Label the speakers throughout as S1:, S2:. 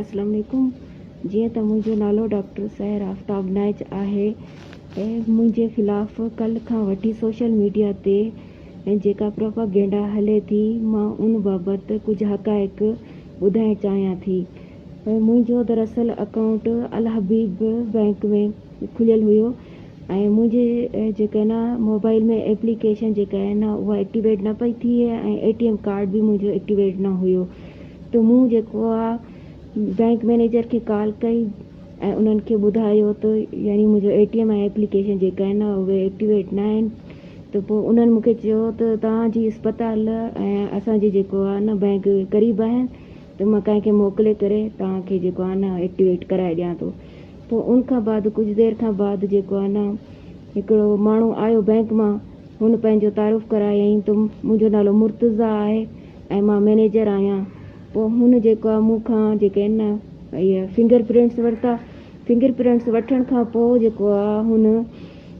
S1: اسلام عليڪم جيئن ته منهنجو نالو ڊاڪٽر سحر آفتاب نائچ آهي ۽ منهنجي خلاف ڪلهه کان وٺي سوشل ميڊيا تي جيڪا پروپاگينڊا هلي ٿي مان ان بابت ڪجهه حقائق ٻڌائڻ چاهيان ٿي منهنجو دراصل اڪائونٽ الحبيب بئنڪ ۾ کليل هيو ۽ منهنجي جيڪا آهي نه موبائل ۾ ايپليڪيشن جيڪا آهي نه اها ايڪٽيويٽ نه پئي ٿئي ۽ اي ٽي ايم ڪارڊ به منهنجو ايڪٽيويٽ نه هيو ته مون جيڪو آهي بئنڪ مئنيجر کي ڪال ڪئي ۽ انهن کي ٻڌايو ته يعني منهنجو اي ٽي ايم ۽ ايپليڪيشن جيڪا آهي نه اهي ايڪٽيويٽ نه آهن ته پوء انهن مونکي چيو ته توهان جي اسپتال ۽ اسان جي جيڪو آهي نه بئنڪ قريب آهن ته مان ڪنهن کي موڪلي ڪري توهان کي جيڪو آهي نه ايڪٽيويٽ ڪرائي ڏيان ٿو پوء ان کان بعد ڪجهه دير کان بعد جيڪو آهي نه هڪڙو ماڻهو آيو بئنڪ مان هن پنهنجو تعارف ڪرايائين ته منهنجو نالو مرتضيٰ آهي ۽ مان مئنيجر آهيان پوء هن جيڪو آهي مون کان جيڪي آهن نه اهي فنگر پرنٽس ورتا فنگر پرنٽس وٺڻ کان پوء جيڪو آهي هن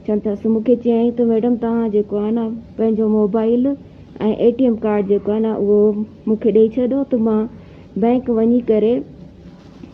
S1: چون ٿس مون کي چيائين ته ميڊم توهان جيڪو آهي نه پنهنجو mobile ۽ A T M card جيڪو آهي نه اهو مون کي ڏئي ڇڏو ته مان بئنڪ وڃي ڪري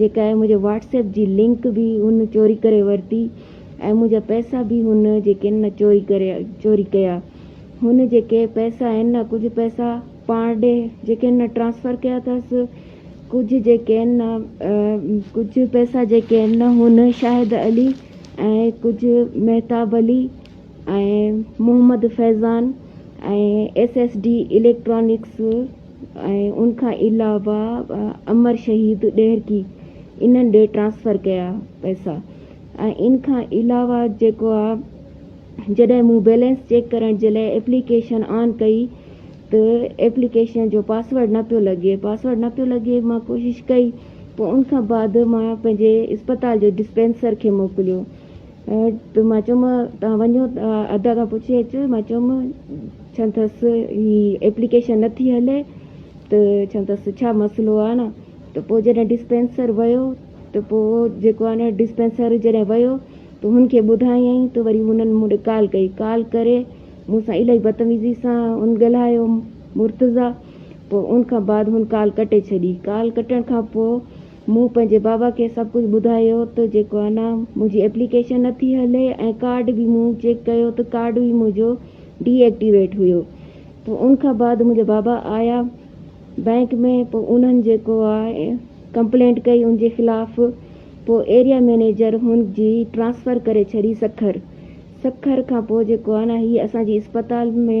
S1: جيڪا آهي منهنجي واٽس ايپ جي لنڪ به هن چوري ڪري ورتي ۽ منهنجا پئسا به هن جيڪي آهن نه چوري ڪري چوري ڪيا هن جيڪي پئسا آهن نه ڪجهه پئسا پاڻ ڏي جيڪي آهن نه ٽرانسفر ڪيا اٿس ڪجهه جيڪي آهن نه ڪجهه پئسا جيڪي آهن نه هن شاهد علي ۽ ڪجهه Mahtab Ali ۽ Muhammad Faizan ۽ S S D electronics ۽ ان کان علاوه امر شهيد ڏهرڪي انهن ڏي ٽرانسفر ڪيا پئسا ۽ ان کان علاوه جيڪو آ جڏهن مون بيلنس چيڪ ڪرڻ جي لاء ايپليڪيشن آن ڪئي ته ايپليڪيشن جو پاسورڊ نه پيو لڳي پاسورڊ نه پيو لڳي مان ڪوشش ڪئي پوء ان کان بعد مان پنهنجي اسپتال جي ڊسپينسر کي موڪليو ته مان چيم توهان وڃو ته ادا کان پڇي اچو، مان چيم ڇا ٿس هي ايپليڪيشن نٿي هلي ته ڇا ٿس ڇا مسئلو آهي نه ته پوء جڏهن ڊسپينسر ويو ته پوء جيڪو آهي نه ڊسپينسر جڏهن ويو ته هن کي ٻڌايائين ته وري هنن مون ڏي ڪال ڪئي ڪال ڪري مون سان الاهي بدتميزي سان هن ڳالهايو مرتضيٰ پوء ان کان بعد هن ڪال ڪٽي ڇڏي ڪال ڪٽڻ کان پوء مون پنهنجي بابا کي سڀ ڪجهه ٻڌايو ته جيڪو انا منهنجي ايپليڪيشن نٿي هلي ۽ ڪارڊ به مون چيڪ ڪيو ته ڪارڊ به منهنجو ڊي ايڪٽيويٽ هيو پوء ان کان بعد منهنجا بابا آيا بئنڪ ۾ پوء انهن جيڪو آء ڪمپلينٽ ڪئي ان جي خلاف پوء ايريا مئنيجر هن جي ٽرانسفر ڪري ڇڏي سکر سکر کان پوء جيڪو انا هي اسان جي اسپتال ۾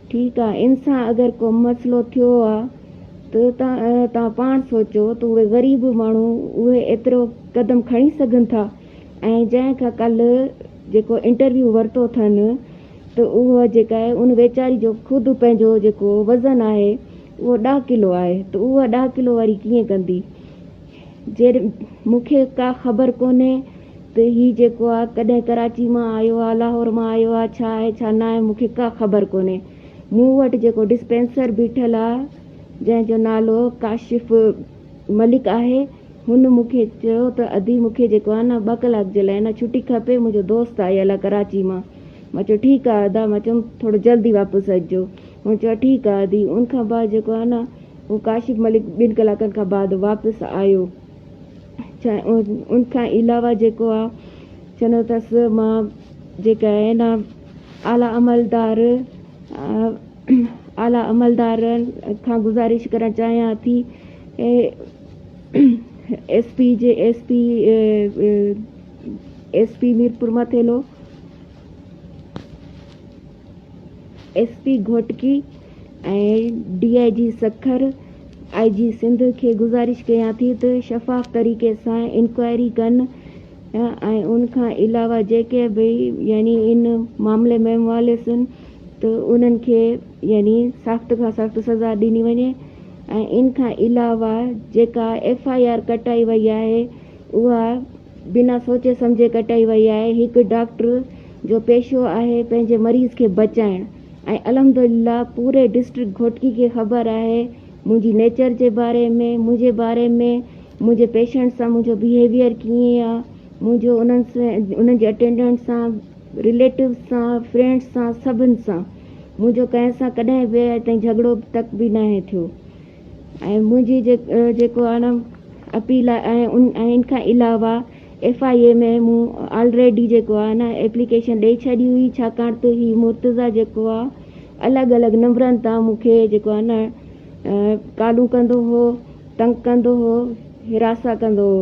S1: ٺيڪ آ ان سان اگر ڪو مسئلو ٿيو آ ته توهان پاڻ سوچو ته اهي غريب ماڻهو اهي ايترو قدم کڻي سگهن ٿا ۽ جنهن کان ڪلهه جيڪو انٽرويو ورتو اٿن ته اهو جيڪا آهي ان ويچاري جو خود پنهنجو جيڪو وزن آهي اهو ڏهه ڪلو آهي ته اهو ڏهه ڪلو واري ڪيئن ڪندي. جيئن مون کي ڪا خبر ڪونهي ته هي جيڪو آ ڪڏهن ڪراچي مان آيو آ لاهور مان آيو آ ڇا آهي ڇا ناهي مون کي ڪا خبر ڪونهي مون وٽ جيڪو ڊسپينسر بيٺل آ جنهن جو نالو ڪاشف ملڪ آهي هن مون کي چيو ته ادي مون کي جيڪو آ نه ٻه ڪلاڪ جي لاء نه ڇٽي کپي منهنجو دوست آيل آ ڪراچي مان مان چيو ٺيڪ آ ادا مان چيم ٿورو جلدي واپس اچجو هن چيو ٺيڪ آ ادي ان کان بعد جيڪو آ نه هو ڪاشف ملڪ ٻن ڪلاڪن کان بعد واپس آيو ان کان علاوه جيڪو آ چنوتس مان جيڪا آهن اعليٰ عملدار اعليٰ عملدارن کان گذارش ڪرڻ چاهيان ٿي S P ji S P S P Mirpur Mathelo S P Ghotki ۽ D I G Sukkur I G Sindh کي گذارش ڪيان ٿي ته شفاف طريقي سان انڪوائري ڪن ۽ ان کان علاوه جيڪي به يعني ان معاملي ۾ ملوثن ته انهن کي يعني سخت کان سخت سزا ڏني وڃي ۽ ان کان علاوه جيڪا ايف آء آر ڪٽائي وئي آهي اها بنا سوچي سمجهي ڪٽائي وئي آهي، هڪ ڊاڪٽر جو پيشو آهي پنهنجي مريض کي بچائڻ ۽ الحمدلله پوري ڊسٽرڪٽ گهوٽڪي کي خبر آهي منهنجي نيچر جي باري ۾ منهنجي باري ۾ منهنجي پيشنٽ سان منهنجو بيهيويئر ڪيئن آ منهنجو انهن انهن جي اٽينڊنٽ سان رليٽوز سان فرينڊس سان سڀن سان منهنجو ڪنهن سان ڪڏهن به اڄ تائين جهڳڙو تڪ به ناهي ٿيو. ۽ منهنجي جيڪو اڻ اپيل آهي ۽ ان کان علاوه ايف آء اي ۾ مون آلريڊي جيڪو آهي نه ايپليڪيشن ڏئي ڇڏي هئي ڇاڪاڻ ته هي مرتضيٰ جيڪو آهي الڳ الڳ نمبرن تان مون کي جيڪو آهي نه ڪالون ڪندو هو تنگ ڪندو هو حراسان ڪندو هو